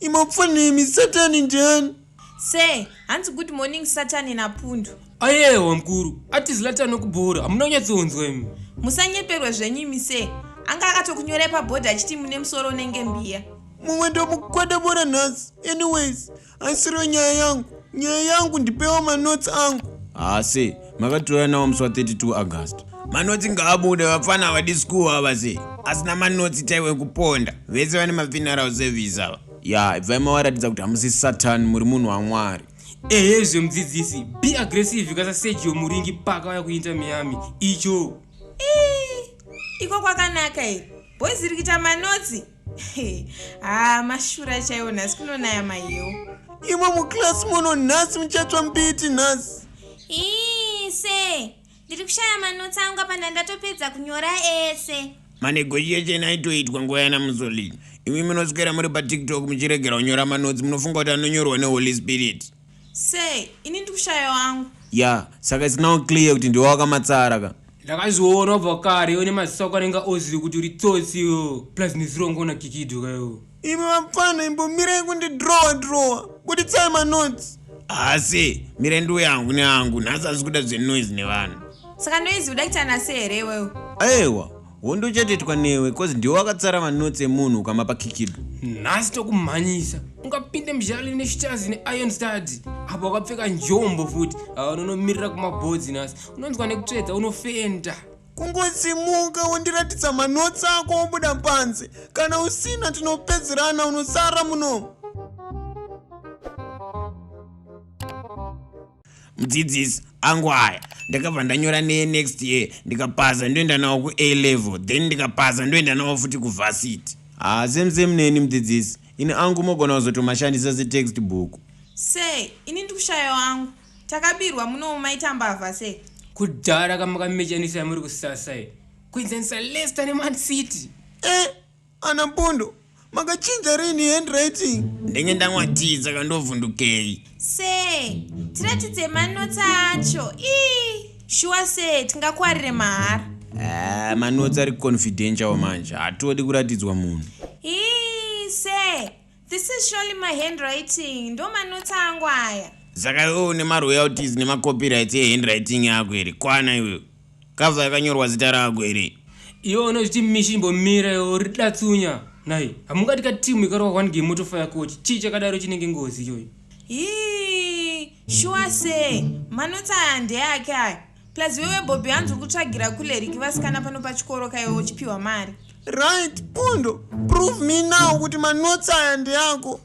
imapfana imi satani ndiani Sir, hanzi good morning Satani naPundu. Ayewa mkuru, ati Zlatan nokubhora, hamuna kunyatsonzwa imi. Musanyeperwe zvenyu imi sir. Anga akatokunyorai paboard achiti mune musoro unenge mbiya. Mumwe ndomukwada bora nhasi. Anyways, haisiro nyaya yangu. Nyaya yangu ndipewa manotes angu. Haa sir, makatouya nawo musi wa 32 august manotsi ngaabude vapfana havadi school ava sei asina manotsi chaiwe kuponda vese vane mafineral service ava ya ibvai mawaratidza kuti hamusi satan muri munhu wamwari ehe zve mudzidzisi be aggressive kasa sergio muringi paka vaya kuinta miami icho iko kwakanaka here boys rikita manotsi haa mashura chaiwo nhasi kunonaya mahiwo imwe muclass muno nhasi muchatsva mbiti nhasi ii se ndiri kushaya manotsi angu apa ndandatopedza kunyora ese manegotiation aitoitwa nguva yana musolini imwe munoswera muri patiktok muchiregera kunyora manotsi munofunga kuti anonyorwa neholy spirit Sei? Ini ndikushaya wangu. Yeah, saka it's now clear kuti ndiwe wakamatsara ka. Ndakazviona ubva kare iwe nemaziso ako anenge ozviri kuti uri tsotsi iwe plus nezirongo una kikido ka iwe. Imi vapfana imbomirai kundi drawer drawer. Buditsai manotes. Asi, mire ndiuye hangu nehangu, nhasi hazvikuda zvenoise nevanhu. Saka noise uda kuita nase here iwewe? Aewa. Hondo uchatoitwa newe cause ndiwe wakatsara manotes emunhu ukamapa kikibo. Nhasi tokumhanyisa. Ungapinde muzhale neshitazi neiron studs. Apa wakapfeka njombo futi. Awa unonomirira kumabhodzi nhasi. Unonzwa nekutsvedza unofenda. Kungosimuka wondiratidza manotes ako wobuda panze. Kana usina tinopedzerana unosara muno. mudzidzisi angu aya ndakabva ndanyora neye next year ndikapasa ndoenda nawo kua level then ndikapasa ndoenda nawo futi kuvhasiti haa ah, same same neni mudzidzisi ini angu mogona kuzotomashandisa setext book sei ini ndikushayo angu takabirwa munowo maita mbavha sei kudhara kamakamechanisa muri kusasai kuenzanisa lester neman city eh? Ana Pondo, makachinja rini handwriting? Ndenge ndanwa tii saka ndovhundukei. Sir, tiratidze manotsi acho. Ii, shuwa sir, tingakwarire mahara. Ah, manotsi ari confidential manje, hatodi kuratidzwa munhu. Ii, sir, This is surely my handwriting. Ndo manotsi angu aya. Saka iwe une maroyalties nemacopyrights ehandwriting yako here? Kwana iwe. Cover yakanyorwa zita rako here? Iwe unozviti mishi imbomira iwe uri datsunya. Nhai, hamungati ka team ikarwa one game motofaya coach. Chii chakadaro chinenge ngozi iyoyo? Hii, shuwa sei? Manotsi aya ndeake aya. plus wewe bobby hanzi ukutsvagira kuleriki vasikana pano pachikoro kaiwe uchipiwa mari right pundo prove me now kuti manotsi aya ndeako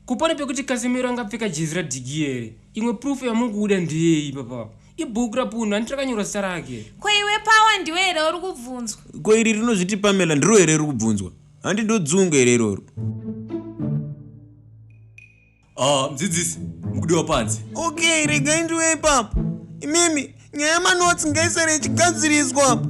kupona pekuti kasimiro angapfeka jezi radhigi here imwe proof yamuri kuuda ndeyei papa ibhuku rapundo handiti rakanyora zita rake ko iwe pawa ndiwe here uri kubvunzwa ko iri rinozviti pamela ndiro here riri kubvunzwa handi ndodzunga here iroro Ah, mdzidzisi, mukudiwa panze. Okay, regai ndiwe ipapo. Imimi, nyaya manotsi ngaisare ichigadziriswa apa.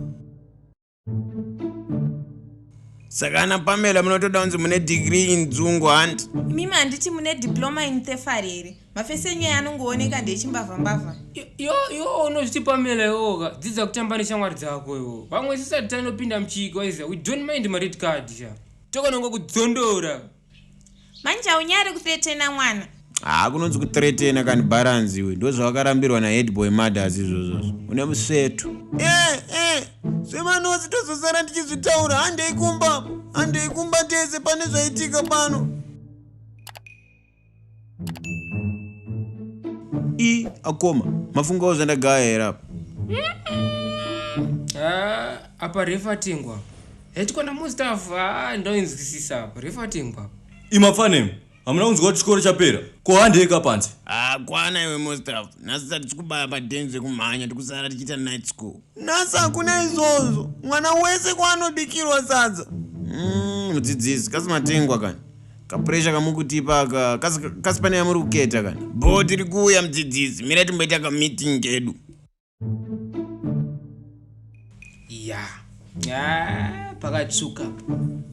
Saka ana Pamela munotoda kunzi mune degree in dzungu hanti? Imimi handiti mune diploma in thefari here? Mafesi enyu aya anongooneka ndeechimbavha mbavha. Yo, yo, unozviti Pamela yoga. Dzidza kutamba neshamwari dzako yo. Vamwe sisati tanopinda muchigwa iza. We don't mind ma red card sha. Tokonongo kudzondora. Manje haunyare kuthretena mwana. Haa kunonzi kuthretena kani balance iwe ndozvawakarambirwa na headboy mothers izvozvozvo. Une museto. Eh eh zvemanozi tozosara ndichizvitaura handei kumba handei kumba tese pane zvaitika pano. i akoma mafungawo zvandagaya here apa ah, apa refatingwa hetikona mustaff ah, ndoinzwisisa apa refatingwa imafanem hamuna kunzwa kuti chikoro chapera ko handeka panze ah, kwana iwe mustaff nhasi sati tikubaya padenzi rekumhanya tikusara tichiita night school nhasi hakuna izvozvo mwana wese kwaanobikirwa sadza mm, mudzidzisi mm, kasi matengwa kani kapuresha kamukutipa aka kasi pane yamuri kuketa kana bho tiri kuuya mudzidzisi mira timboita kameeting kedu ya ah, pakatsvuka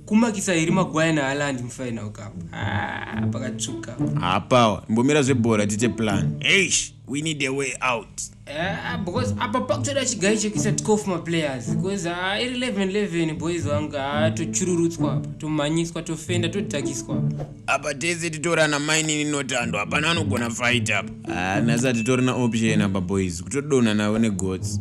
kumakisa iri magwaya naalandi mufainal cup ah, pakatsvuka hapawa imbomira zvebhora tiite plan eish we need a way out Eh, ah, because apa pakutoda chigai chekuisa tkof maplayers because ah, iri 11 11 boys vangu ah, tochururutswa apa tomhanyiswa tofenda todhakiswa apa tese titorana mainini notando hapana anogona fight apa ah, nhasi hatitorina option apa boys kutodonha navo negots